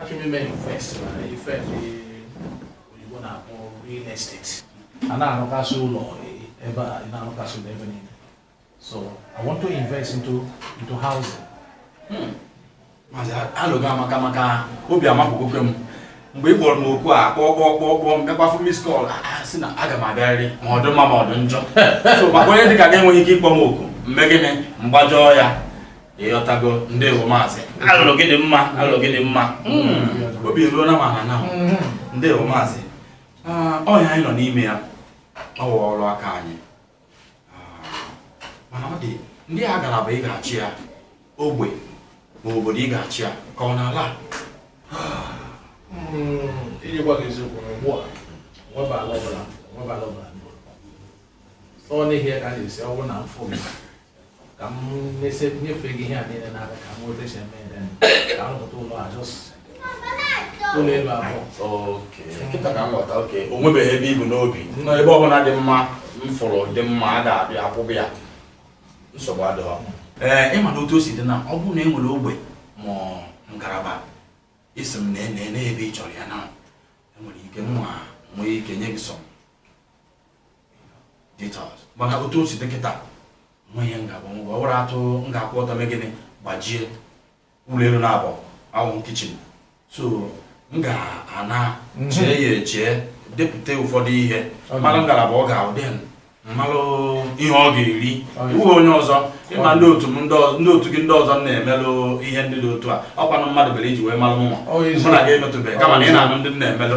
Achọrọ m ime invest na ife ndị oyibo na-akpọ real estate. A na-arụkasị ụlọ ebe a, ị na-arụkasị ụlọ ebe niile. So I want to invest into into housing. Hmm. Maazị alo gị amaka maka obi amapụgokwa m mgbe ị kpọrọ m oku a kpọọ kpọọ kpọọ kpọọ m gakwa fụ miss call sị na aga m abịarịrị ma ọ dị mma ma ọ dị njọ so maka onye dị ka gị enweghị ike ịkpọ m oku m mee gịnị m gbajọọ ya ịghọtago ndewo maazị alo gị dị mma alo gị dị mma hmm. obi eruona m ana na hmm. ndewo maazị ah, ọ ya anyị nọ n'ime ya ọ wụ ọrụ aka anyị ah, mana ọ dị ndị ngalaba ị ga-achọ ya ogbe ma obodo ị ga-achọ ya ka ọ na-ala hmm. iji gwa gị eziokwu na ugbu a nweba ala ọbụla nweba ala ọbụla ọ n'ihi ya ka m na-asị ọ bụrụ na m fụ ka m nyefee gị ihe a niile n'aka ka m nweta esi ka m rụpụta ụlọ a just ụlọ elu abụọ kịta ka m ghọta okay o nwebeghị ebe i bu n'obi no ebe ọbụla dị mma m fụrụ dị mma a ga-abịa akwụba ya nsogbu adịghọ ee ịma na otu o si dị na ọ bụrụ na e nwere ogbe ma ngalaba ị sị m na nee ebe ị chọrọ ya na enwere ike nwa nwee ike nye gị some details mana otu o si dị kịta nwa ihe m ga-agbanwe ọ bụrụ atụ m ga-akwụ ọtọ mee gịnị gbajie ụlọ elu naabọ awụghị kitchen so m ga-ana chee ya eche depụta ụfọdụ ihe mara ngalaba ọ ga-adị then malụ ihe ọ ga-eri ị wụ onye ọzọ ịma ndị otu m ndị otu gị ndị ọzọ m na-emelụ ihe ndị dị otu a ọ kwanụ mmadụ mere i ji wee malụ mụnwa mụ na gị emetụbeghị kama na ị na-anụ ndị m na-emelụ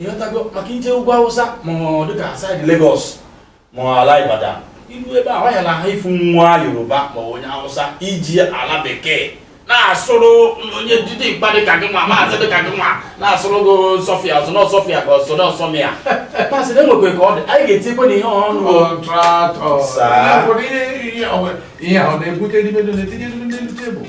ịghọtago maka i jee ugwu Awụsa ma ọ dịka saịdị Lagos ma ala Ibadan i ruo ebe a wayala ha ị fụ nwa Yoruba ma onye Awụsa iji ala bekee na-asụrụ onye dị mkpa dịka gị nwa maazị dịka gị nwa na-asụrụ gị sọfịa ọzọ na ọsọfịa ka ọzọ na ọsọmịa pasị na enwekwe ka ọ dị anyị ga-etikwe na ihe ọnụ contractor sir. ụfọdụ ihe ihe ahụ na-ebute n'ime na-etinye n'elu tebụl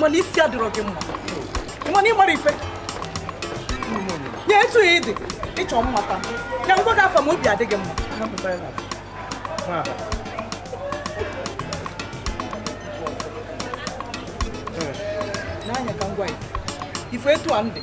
mana isi adịrọ gị mma mana ị mara ife ya etu ya ịdị ịchọ mmata ya m gwa gị afa ma obi adịghị mma n'anya ka m gwa ife etu a ndị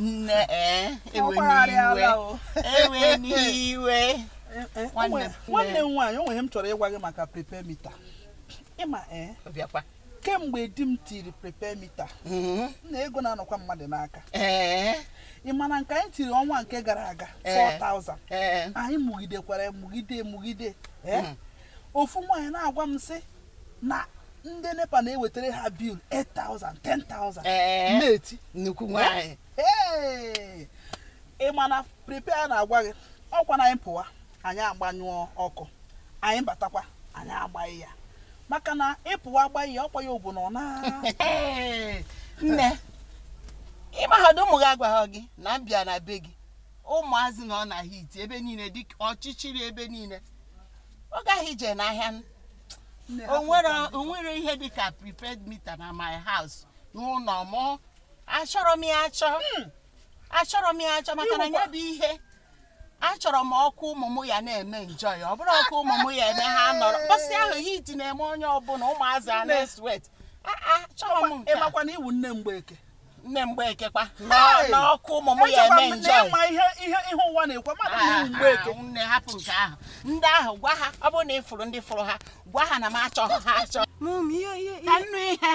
nne ee ewena iwe nwanne m nwaanyị o nwere ihe m chọrọ ịgwa gị maka prepaid meter ịma ee Kemgbe di m tiri prepaid mita, mm-hmm. m na ego na-anọkwa mmadụ n'aka. Eh. Ị ma na nke anyị tiri ọnwa nke gara aga 4,000 eh. eh. anyị mụgidekwara mụgide mụgide mm. ofu nwaanyị na-agwa m sị na ndị NEPA na-ewetara ha bil 8,000 10,000 na-eti mkpu nwaanyị ị ma na prepaid na-agwa gị ọkwa na anyị pụwa anyị agbanyụọ ọkụ, anyị batakwa, anyị agbanye ya. Maka na ị pụwa agbanye ya, ọkwa ya ọ bụ na ọ na. Nne, ị mahadụ ụmụ gị agwaghị gị na m bịa na be gị ụmụazị nọ na hit ebe niile dị ọchịchịrị ebe niile ọ gaghị ije n'ahịa n- Nne, o hapụ nwere ka m- o nwere ihe dị ka prepaid mita na my house n'ụlọ mụ achọrọ m ya achọ achọrọ m ya achọ maka na ya bụ ihe achọrọ m ọkụ ụmụ m ya na-eme enjoy ọ bụrụ ọkụ ụmụ m ya eme ha nọrọ mkpọsị ahụ hit na-eme onye ọbụla ụmụazị a na-eswet achọrọ m nke ị makwa na ị wụ nne mgbeke nne mgbeke kwa na ọkụ ụmụ m ya eme enjoy ma ihe ihe ihe ụwa na-ekwe mmadụ ah, ị wụ mgbeke ah, nne hapụ nke ahụ ndị ahụ gwa ha ọ bụrụ na ị fụrụ ndị fụrụ ha gwa ha na m achọ ha achọ ka m nụ ihe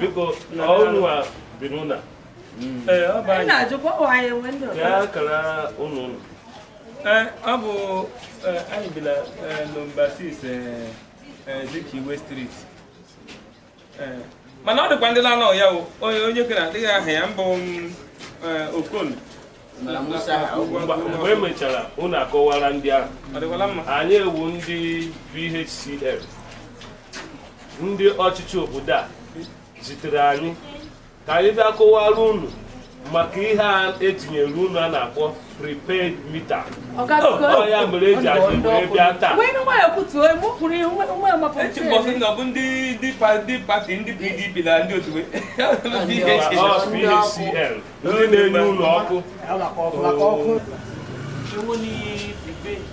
biko ọ unu wa bi n'ụlọ ya kara ụlọ ụlọ ọ bụ anyị bi na nọmba 6 Azikiwe Street eh, mana ọ dịkwa ndị na-anọ ya onye kedị aha ya mbụ mm, eh, Okon mgbe emechara unu akọwara ndị ahụ anyị wụ ndị PHCN ndị ọchịchị obodo a zitere anyị ka anyị bịa kọwara unu maka ihe a etinyere unu a na-akpọ prepaid mita ọ ya mere eji anyị wee bịa taa eche m bụ sị na ọ bụ ndị ndị pa- ndị pati ndị PDP na ndị otu Ọ PHCN ndị na-enye unu ọkụ Ewo ni prepaid.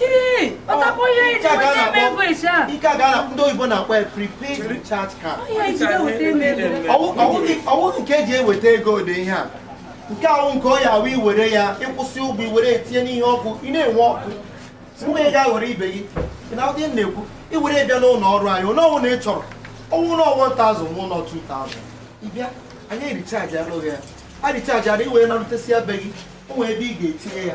ihe a ka ndị oyibo na-akpọ ya prepaid recharge card ọ wụghị nke eji eweta ego dị ihe a nke ahụ nke ọ ya awụ i were ya ị kwụsị ụgwọ i were etinye n'ihe ọkụ ị na-enwe ọkụ mgbe ị ga-aghọrọ ibe gị na ụdị na-ekwu i were bịa n'ụlọ ọrụ anyị onye ọwụna ị chọrọ ọ wụ na ọ wụ 1000 ọ wụ na ọ 2000 ị bịa anyị erichajiara gị ya a richajiara i were narutesịa be gị o nwere ebe ị ga-etinye ya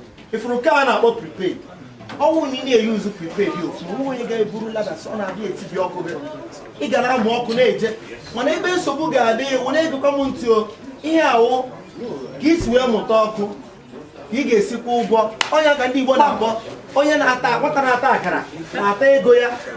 ị fụrụ nke a na-akpọ prepaid ọ wụ na ị na-eyuzu prepaid otu o nwe onye ga-eburu lada ọ na-abịa etibi ọkụ gị ị ga na-amụ ọkụ na-eje mana ebe nsogbu ga-adị wụ na-egekwa m ntị o ihe a wụ ka i si wee mụta ọkụ ka ị ga-esi kwụọ ụgwọ ọ ya ka ndị Igbo na-akpọ onye na-ata nwata na-ata akara na-ata ego ya